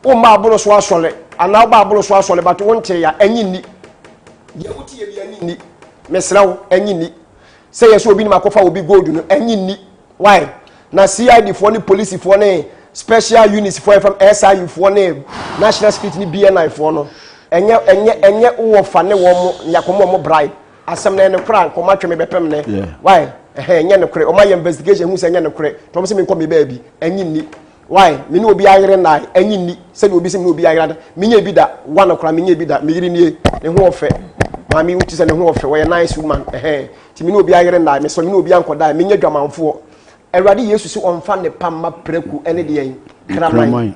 Wo mma aboro so asɔre anaa wo ba aboro so asɔre but wo ntee ya, enye nni. Deɛ wo tie bi enye nni. Mesrɛ wo, enye nni. Sɛ yɛ sɛ obi nim akɔfa obi gold no, enye nni. Why? Na CID foɔ ne polisi foɔ ne special units foɔ yɛfam SIU foɔ ne national security ne BNI foɔ no, enye enye enye wo wɔ fa ne wɔn mo na yɛ akɔmɔ wɔn bribe. Asɛm no ɛne kora nka wɔn atwe me bɛpem nɛ. Why? Ɛhɛn, enye nokore. Wɔn ayɛ investigation ehu sɛ enye nokore nti wɔn se menkɔ me baabi. Enye nni. Why? Me ne obi ayere nnae, ɛnye nni sɛdeɛ obi sɛ me ne obi ayere ada. Menyɛ bi da, wa no koraa menyɛ bi da. Me yere nie, ne ho ɔfɛ. Maame wo ti sɛ ne ho ɔfɛ, wɔyɛ nice woman. Ɛhɛn, nti me ne obi ayere nnae, mesɛ me ne obi ankɔdae, menyɛ dwamanfoɔ. Awurade Yesu se ɔmfa nnepa mma prako ne deɛn? Kraman.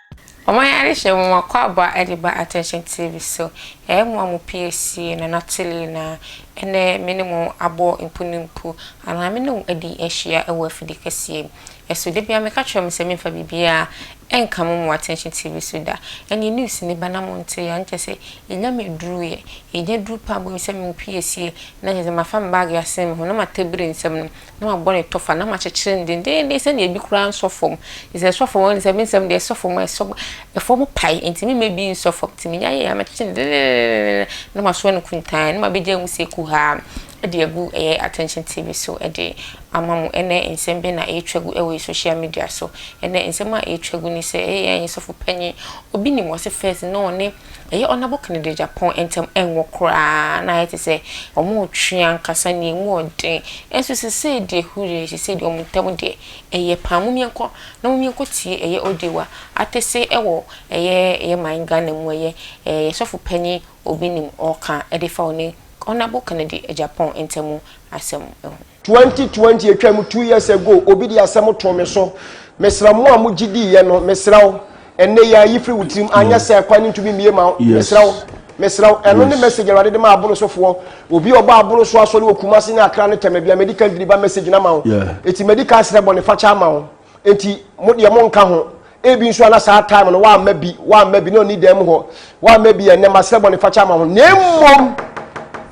Wɔn adehyeɛ nwoma Kwabo a ɛde ba Attention TV so. Yɛyɛ mmoa mo pie sie na na Tilly na ɛnnɛ me ne mo abɔ mpu ne mpu anaa me ne wo adi ahyia wɔ afidie kɛseɛ mu. Ɛso da biara meka kyerɛ mo sɛ memfa biribiara nka mo mo Attention TV so da. Ɛnneɛ news no ba na monteeɛ a na kyerɛ sɛ yɛnya me aduruuɛ. Yɛnya duru paa bom sɛ me wo pie sie na kyerɛ sɛ mafa me baage asɛn me ho na matɛ biri nsam no na wabɔ ne tɔfa na makyekyere no dendeenden sɛnea ebi koraa nsɔ fam. Enti sɛ ɛsɔ fam a, nsɛm nsɛm deɛ ɛsɔ fam a, ɛsɔ fam pae. Enti mema ebi nsɔ fam. Enti menya yɛ a mɛkyekye no dendeenden na masoa no kuntann na mabegyaa mu sɛ kuhaa de agu ɛyɛ Attention TV so de ama mo. Ɛnnɛ nsɛm bɛn na ɛretwa gu wɔ yɛn social media so? Ɛnnɛ nsɛm a ɛretwa gu ne sɛ ɛyɛ yɛn sɔfo panyin, obi nim ɔse first no ɔne Ɛyɛ Ɔnabo Kano de Agyapong ntam ngo koraa na ayɛ te sɛ wɔretwe ankasa nea emu yɛ den. Nanso seesei deɛ hurray, seesei deɛ wɔn ntam deɛ ɛyɛ paa. Momyɛ nkɔ na momyɛ nkɔtie ɛyɛ Odewa Atese wɔ ɛyɛ ɛyɛ man Ghana mu ɛyɛ ɛɛ yɛn sɔfo panyin Obinim ɔreka de fa ɔne Ɔnabo Kano de Agyapong ntam asɛm ho. Twenty twenty atwam two years ago obi de asɛm too me so mesra mo a mo gye di yɛ no mesra wo ɛnɛ yi a yi firi wo tirim anyɛ sɛ ɛkwan no ntumi mie ma wo mesra wo mesra wo ɛno ne message awurade de ma abono so foɔ obi a ɔbɔ abono so asɔre wɔ kumase ne akra ne tɛmɛ bia medical deliver message na ma wo eti medical srɛ bɔ ne fakyɛ ama wo. Enti mo deɛ monka ho. Ebi nso a na saa time no wamma bi, wamma bi na ɔni dan mu hɔ, wamma bi a ɛnnɛ masrɛ bɔnefakyɛ ama ho. Na mmom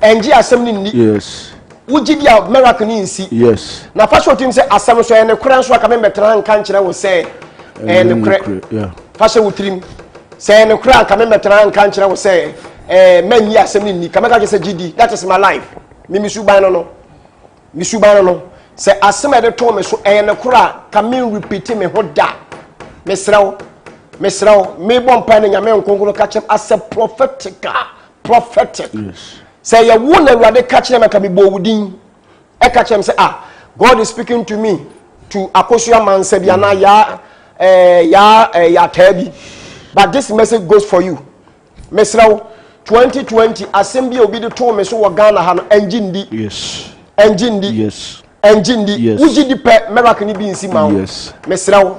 ɛngye asɛm no nni. Yes. Wogye di a miracle no nsi. Yes. Na fa hyɛ wo tirim sɛ asɛm no so ɛyɛ nokorɛ nso a ka memmɛtena ha nka nkyerɛ wo sɛ ɛyɛ nokorɛ. Fa hyɛ wo tirim sɛ ɛyɛ nokorɛ a ka memmɛtena ha nka nkyerɛ wo sɛ ɛɛ mɛnyi asɛm no nni ka mɛka kyerɛ sɛ gye di that is my life mimi suban no no. me suban no no sɛ asɛm a ɛde too me so ɛyɛ ne koro a ka me repeat me ho da mesrɛ wo mesrɛ wo mebɔ mpa no nyame nkonkoro ka kyerɛm asɛ prophetic a prophetic sɛ yɛ wo na awurade ka kyerɛ maka mebɔ wo din ɛka kyerɛm sɛ ah god is speaking to me to akoso amansa bi anaa yaa eh, yaa eh, yataa bi but this message goes for you Mesrɛ wo, 2020 asɛm bi a obi de too me so wɔ Ghana ha no, ɛngye ndi. Yes. Ɛngye ndi. Yes. Ɛngye ndi. Yes. Wogye di pɛ, miracle no bi nsi ma wo. Yes. Mesrɛ wo.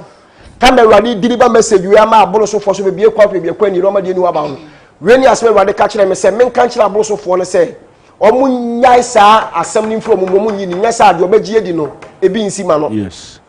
Kama Awurade diri ba message wei ama aboro sofoɔ so bebie kwan pɛ biakɔ ani rɔma deɛ ni waba ho. Wei ni asɛm Awurade ka kyerɛ me sɛ menka nkyerɛ aboro sofoɔ no sɛ wɔn nyae saa asɛm no mfiri wɔn mu wɔn nyi ni nyɛ saa deɛ wɔbɛgye adi no ebi nsi ma no. Yes.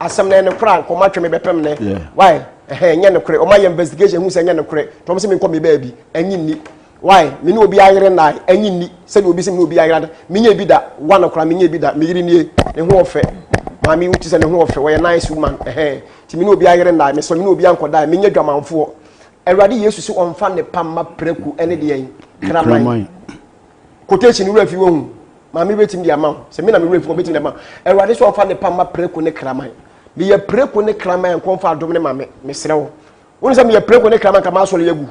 Asɛm no ɛne kora nkɔ matwɛ me bɛpɛm ne why ɛhɛn nyɛ ne kore ɔmo ayɛ investigation hu sɛ nyɛ ne kore tɔm sɛ me nkɔ me baabi ɛnyi nni why me ne obi ayere nnae ɛnyi nni sɛdeɛ obi sɛ me ne obi ayere ada me nyɛ bi da wa no kora me nyɛ bi da me yere nie ne ho ɔfɛ maame wuti sɛ ne ho ɔfɛ wɔyɛ nice woman ɛhɛn ti me ne obi ayere nnae me sɛ me ne obi ankɔ dae me nyɛ dwamanfoɔ awurade yesu sɛ ɔmfa ne pa mma prɛku ɛne deɛ kraman quotation wura fi wɔhu maame bɛtumi de ama wo sɛ me na me wura fi wɔbɛtumi de ama awurade sɛ ɔfa ne pamma preko ne kraman meyɛ preko ne kraman nkɔmfa adom ne ma me mesrɛ wo wone sɛ meyɛ preko ne kraman ka maasɔre agu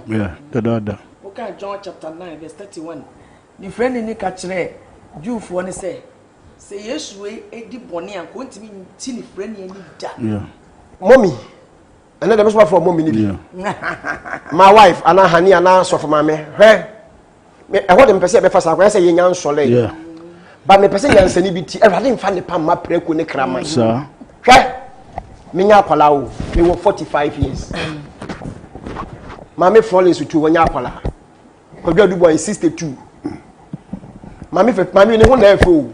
dadaada woka john chapter 9 verse 31 ne frɛ ne ni ka kyerɛ jewfoɔ ne sɛ sɛ yesu di bɔne a kɔntumi nti ne frɛ ne ani da mɔmi ɛnɛ dɛ mɛsoma frɛ mɔmi no bi my wife anaa hani anaa sɔfo maame hwɛ ɛhɔ de mepɛ sɛ yɛbɛfa saa kwan sɛ yɛnya nsɔlɛ yeah. but mepɛ sɛ nyansani bi ti awurade mfa ne pamma prɛko ne kraman hwɛ menya akwala o mewɔ 45 years maame florence tu wɔnyɛ akwala kwadwo adubɔ ayɛ 62 maame fɛ maame ne ho na ɛfɛ o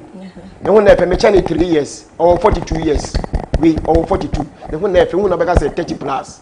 ne ho na ɛfɛ mekyɛ ne 3 years ɔwɔ 42 years wei ɔwɔ 42 ne ho na ɛfɛ wo na bɛka sɛ 30 plus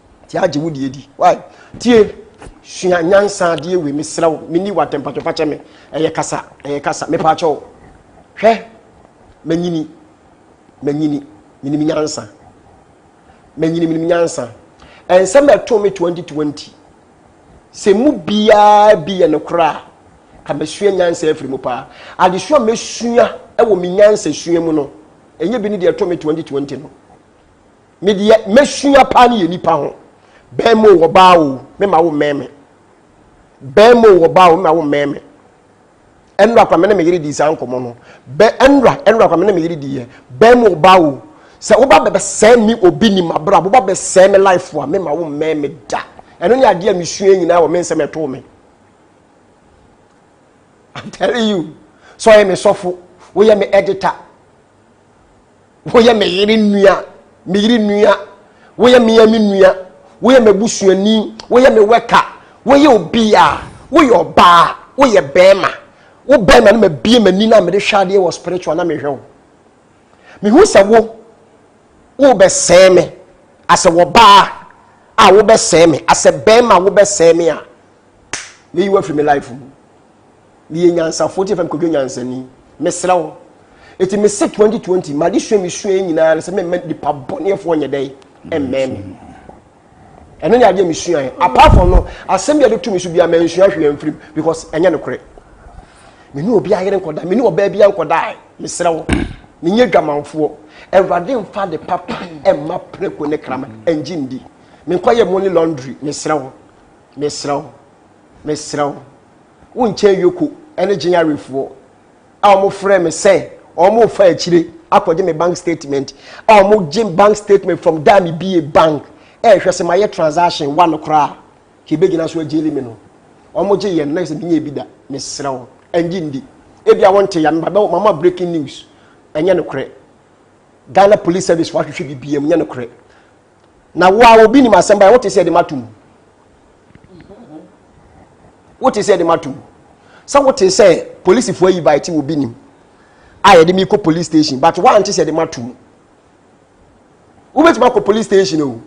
Ti agye wo deɛ di why tie sua nyansa adeɛ wei mesrɛ wo menni w'atɛmpatwɔ fakyɛ me ɛyɛ kasa ɛyɛ kasa mepaakyɛ wo hwɛ manyini manyini menim nyansa manyini menim nyansa ɛnsɛm ɛto me 2020 sɛ mu biara bi yɛ nokorɛ a ka masua nyansa afiri mu paa adesua mɛsua ɛwɔ me nyansa sua mu no ɛnyɛ bi ne deɛ ɛto me 2020 no me deɛ mɛsua paa ne yɛ nipa ho bɛrima o ɔbaa o mema wo mmɛn me bɛrima o ɔbaa o mema wo mmɛn me ɛnura kwa me ne me yere di saa nkɔmɔ no bɛ ɛnura ɛnura kwa me ne me yere di yɛ bɛrima o ɔbaa o sɛ woba bɛbɛsɛe me obi ni ma bra woba bɛsɛe me life a mema wo mmɛn me da ɛno ne adeɛ a mesua nyinaa wɔ me nsɛm ɛtoo me I'm telling you sɛ ɔyɛ me sɔfo woyɛ me editor Woyɛ me yere nua, me yere nua. Woyɛ me a me nua. Woyɛ m'abusuani. Woyɛ me wɛka. Woyɛ obi a. Woyɛ ɔbaa. Woyɛ bɛrima. Wo bɛrima no mabie m'ani na mede hwɛ adeɛ wɔ spiritual na mehwɛ wo. Mehu sɛ wo wobɛsɛe me asɛ wɔbaa a wobɛsɛe me asɛ bɛrima wobɛsɛe me a meyi wo afiri me life mu. Meyɛ nyansafoɔ ti fam kɔdwa nyansani. Mesrɛ wo. Eti mese 2020 ma adesua mi sua nyinaa sɛ mɛmɛ nipa bɔneɛfoɔ nyɛ dɛ ɛmmɛn mi. Ɛno ne adeɛ mesua yɛ. Apart from no, asɛm bi a de tu mi so biara mansua hwee amfiri mu because ɛnyɛ no korɛ. Me ne obi ayere nkɔda, me ne ɔbaa bi ankɔda ɛ. Mesrɛ wo. Menyɛ dwamanfoɔ. Awurade mfa de papa ɛmma preko ne krama ɛngye ndi. Menkɔyɛ money laundry. Mesrɛ wo. Mesrɛ wo. Mesrɛ wo. Wo nkyɛn Yoko ne Gye Yarefoɔ a wɔfrɛɛ me sɛ wɔrefa akyire akɔgye me bank statement a wɔgye bank statement from da a mebie bank ɛrehwɛ sɛ mayɛ transaction wa no koraa ka ɛbɛgyina so agyeli me no wɔgye yɛn na sɛ menyɛ ebi da mesrɛ wo ɛngye ndi ebi a wɔnte ya mebabɛ mama breaking news ɛnyɛ nokorɛ Ghana Police Service wɔahwehwɛ biribiam nyɛ nokorɛ na wo a obi nim asɛm ba wote sɛ ɛde mato mu wote sɛ ɛde mato mu sɛ wote sɛ polisifoɔ ayi bae te obi nim a yɛde mi kɔ police station but woante sɛ ɛde mato mu wobɛtumi akɔ police station o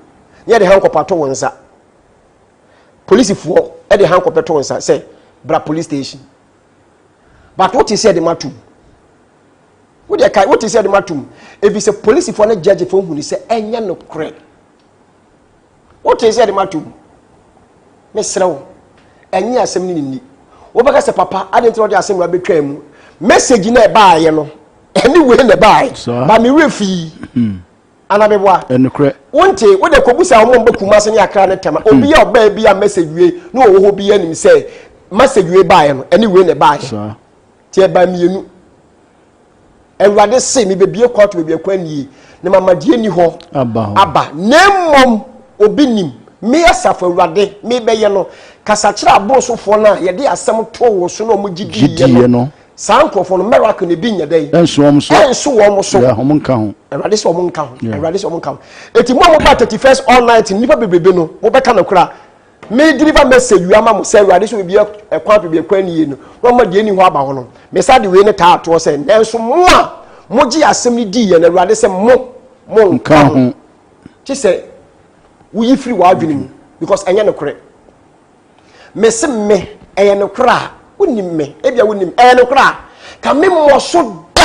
ne yɛde hankɔpa to wo nsa polisifoɔ ɛde hankɔpɛ to wo nsa sɛ bra police station but wote sɛ ɛde mato mu wo deɛ kae wote sɛ de matom ɛfiri sɛ polisifoɔ ne gyagyefoɔ huni sɛ ɛnyɛ nokorɛ wote sɛ de matom mesrɛ wo ɛnyɛ asɛm no nini wobɛka sɛ papa ade nti na ɔde asɛm wura bɛtwaa mu message na ɛbaayɛ no ɛne wei na ɛbaayɛ ba mewerɛ fii hmm. anabɛboa ɛnokorɛ wonte wode kɔbu sɛ wɔn bɛ kuma ase ne akra ne tɛma obi a ɔbaa bi a message wie na ɔwɔ hɔ bi anim sɛ message wei baayɛ no ɛne wei na ɛbaayɛ Ti ɛbaa mmienu. Awurade se mebɛbie kɔ ato baabi ɛkwan nie na mama deɛ ni hɔ aba na mmom obi nim me asafo awurade mebɛyɛ no kasakyerɛ aborosofoɔ no a yɛde asɛm too wɔn so na wɔn gyidiiɛ no saa nkurɔfoɔ no miracle na ebi nyɛ dɛ ɛnso wɔn so ɛnso wɔn so wɔn nka ho awurade sɛ wɔn nka ho awurade sɛ wɔn nka ho eti mu a mo ba thirty first all night nipa bebrebe no mo bɛka no kora Me deliver message wi ama mo sɛ awurade sɛ obi ɛkwan pɛ bi ɛkwan nie no na ɔma deɛ ɛni hɔ aba hɔ no mesa de wei ne taa atoɔ sɛ nanso mo a mogye asɛm no dii yɛ no awurade sɛ mo mo nka ho kye sɛ woyi firi w'adwene mu because ɛnyɛ nokorɛ mese me ɛyɛ nokorɛ a wonim me ebia wonim ɛyɛ nokorɛ a ka me mmɔ so da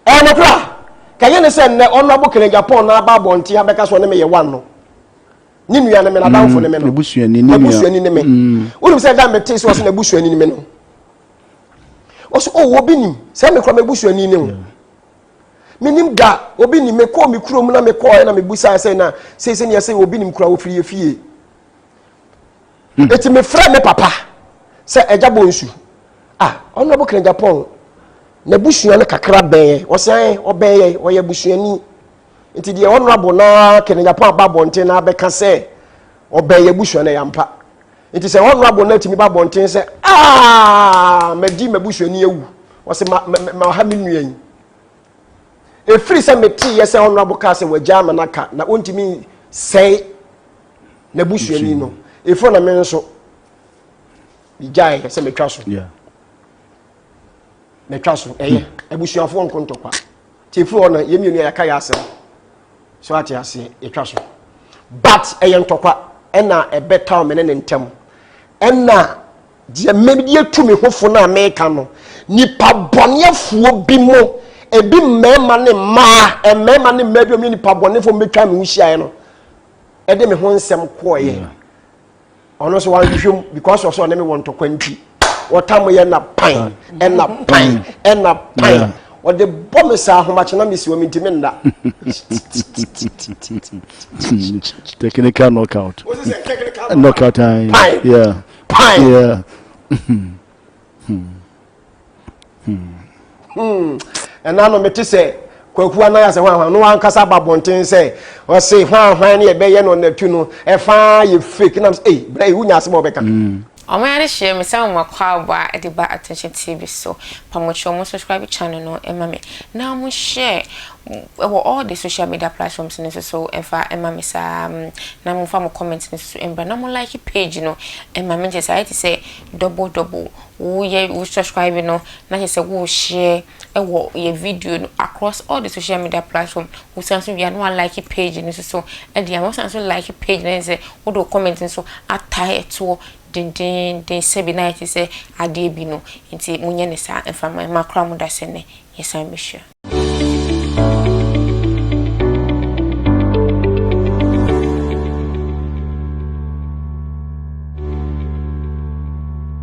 ɛyɛ nokorɛ a ka yɛ ne sɛ nnɛ ɔnrabo kene japan na aba abɔnten ha bɛka sɛ ɔne meyɛ one no ne nua ne me na adamfo ne me no n'abusuani ne me wonim sɛ da metee sɛ ɔsɛ n'abusuani ne me no ɔsɛ o oh, obi nim sɛ mekora m'abusuani ne ho menim da obi nim mekɔɔ me kurom na mekɔɔ ɛna mebusaa sɛ na seisɛ neɛ sɛ obi nim kora wɔfiri yɛ fie eti me frɛ me papa sɛ ɛgya bɔ nsu ah ɔno ɔbɔ kena japan na busua no kakra bɛn ɔsɛn ɔbɛn yɛ ɔyɛ busuani nti deɛ ɔno abo na kena japan aba abɔnten na abɛka sɛ ɔbɛn yɛ busua no yampa nti sɛ ɔno abo na tumi ba abɔnten sɛ ah mɛdi mɛ busuani awu ɔsɛ ma ma ma ɔha mi nua yi efiri sɛ mɛ ti yɛ sɛ ɔno abo kaa sɛ wɔgya ama n'aka na ɔntumi sɛn. na busuani no efo na me nso gyae sɛ metwa so metwa so ɛyɛ abusuafoɔ nko ntɔkwa nti efiri hɔ no yɛn mmienu yɛaka yɛ asɛm so ate aseɛ yɛtwa so but ɛyɛ ntɔkwa ɛna ɛbɛtaw me ne ne ntɛm ɛna deɛ mmedi atu me ho fo no a meka no nipa bɔneɛfoɔ bi mu ebi mmarima ne mmaa mmarima ne mmaa bi mu nipa bɔneɛfoɔ mbɛtwa me ho hyiaeɛ no ɛde me ho nsɛm kɔɔyɛ ɔno nso wanhwehwɛ mu because ɔsɛ ɔne me wɔ ntɔkwa nti wɔtam yɛ na pan ɛna pan ɛna pan ɔde bɔ me saa ahomakye na mesi wɔ me ntimi nna technical knockout knockout time pan pan Hmm. ɛna no mete sɛ kwaku anan asɛ hwanhwan no ankasa aba abɔnten sɛ ɔse hwanhwan ne ɛbɛyɛ no ɔnatu no ɛfaa yɛ fake nam sɛ ei berɛ yi wonya asɛm a wɔbɛka hmm. ɔmo yɛ ade hyɛ me sɛ mo makɔ aboa ɛde ba attention tv so pamokyerɛ ɔmo subscribe channel no ɛma me na ɔmo share ɛwɔ all the social media platforms no nso so ɛfa ɛma me saa na mo fa mo comment no nso so ɛmbra na mo like page no ɛma me nkyɛ sɛ ayɛ te sɛ double double Woyɛ wo subscribe no na kyerɛ sɛ wo share wɔ yɛ video no across all the social media platform. Wo san so wie a na wa like page no nso so de ama. Wo san so like page no sɛ wo de wo comment nso atae ɛtoɔ dendeenden sɛbi na ayɛ te sɛ adeɛ bi no. Nti mo nyɛ ne saa mfa ma yɛn. Ma kora mo dasɛ nɛ yɛ san bɛ hyia.